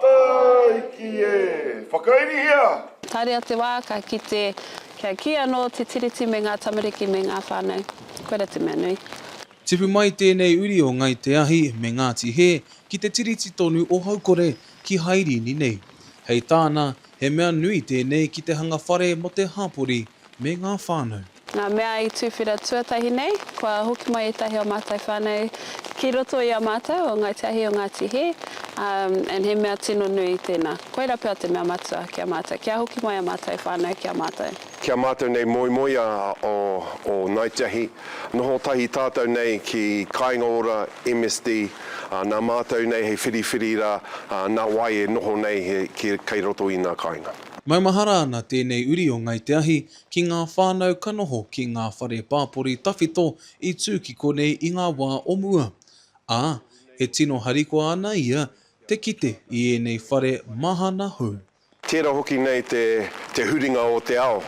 Taiki e! Whakairihia! Tarea te wā, ka kite, kia kī anō te Tiriti me ngā tamariki me ngā whānau. Koe ra te mea nui. Tipu mai tēnei uri o Ngai Te Ahi me Ngāti Hē ki te Tiriti tonu o Haukore, ki Haerini nei. Hei tāna, he mea nui tēnei ki te hanga whare mō te hapori me ngā whānau. Ngā mea i tuwhera tuatahi nei, kua hoki mai ētahi o mātou whānau ki roto i a mātou o Ngāi Te Ahi o Ngāti Hē, ā, and he mea tino nui tēnā. Koirā pea te mea matua ki a mātou, kia hoki mai a mātou whānau ki a mātou. Ki a mātou nei moemoeā o Ngāi Te Ahi, noho tahi tātou nei ki Kāinga Ora, MSD, ā, nā mātou nei hei whiriwhiri rā, ā, nā wai e noho nei he, ki, kei roto i ngā kāinga. Maumahara ana tēnei uri o Ngāi Te Ahi ki ngā whānau ka noho ki ngā whare pāpori tawhito i tū ki konei i ngā wā o mua, ā, e tino harikoa ana ia te kite i ēnei whare mahana hou. Tērā hoki nei te huringa o te ao,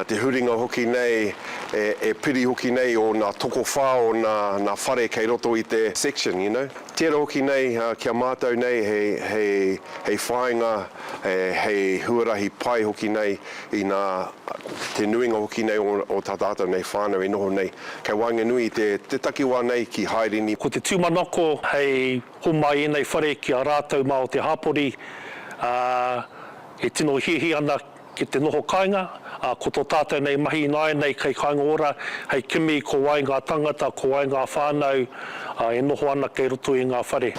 te huringa hoki nei e piri hoki nei o nā tokowhā o nā whare kei roto i te section, you know. Tērā hoki nei ki a mātou nei hei whāinga, hei huarahi pai hoki nei Inā te nuinga hoki nei o tā tātou nei whānau e noho nei, kei waenganui i te takiwā nei ki Haerini. Ko te tūmanako hei homai ēnei whare ki a rātou mā o te hapori, ā, e tino hiahia ana ki te noho kāinga, ā, ko tō tātou nei mahi ināianei kei Kāinga Ora, hei kimi ko wai ngā tāngata, ko wai ngā whānau e noho ana kei roto i ngā whare.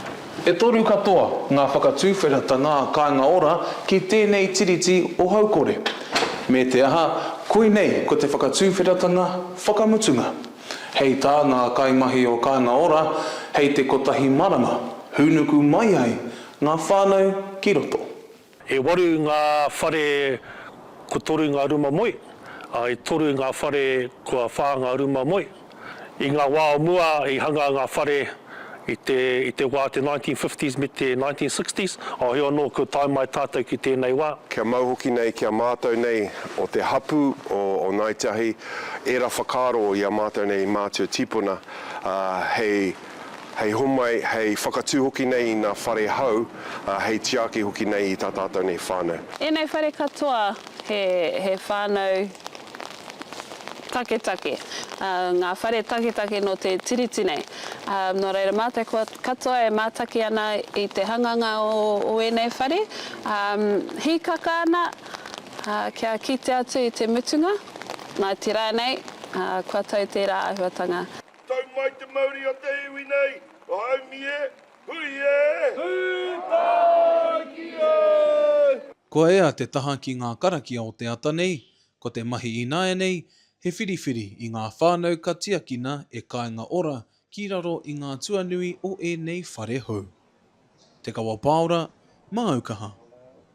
E toru katoa ngā whakatuwheratanga kāinga ora ki tēnei Tiriti o Haukore. Me te aha, koinei ko te whakatuwheratanga whakamutunga. Hei tā ngā kaimahi o Kāinga Ora, hei te kotahi marama, hūnuku mai ai ngā whānau ki roto. E waru ngā whare kua toru ngā ruma moe, ā, e toru ngā whare kua whā ngā ruma moe. I ngā wā o mua i hanga ngā whare i te, i te wā te 1950s me te 1960s, ā, heoi anō kua tae mai tātou ki tēnei wā. Kia mau hoki nei ki a mātou nei o te hapū o, o Ngāi Te Ahi, ērā whakaaro i a mātou nei mātua tīpuna, ā, hei. hei homai, hei whakatū hoki nei i ngā whare hou, ā, hei tiaki hoki nei i tā tātou nei whānau. Ēnei whare katoa he whānau taketake, ngā whare taketake nō te Tiriti nei. Nō reira, mā te katoa e mātaki ana i te hanganga o ēnei whare, hīkaka ana kia kite atu i te mutunga, nā te rā nei, kua tau tērā āhuatanga. Tau mai te mauri o te iwi nei, o Haumi e, hui e! Hui tāiki e! Kua ea te taha ki ngā karakia o te ata nei, ko te mahi ināianei he whiriwhiri i ngā whānau ka tiakina e Kāinga Ora ki raro i ngā tuanui o ēnei whare hou. Te Kawa Pāora, Māu Kaha.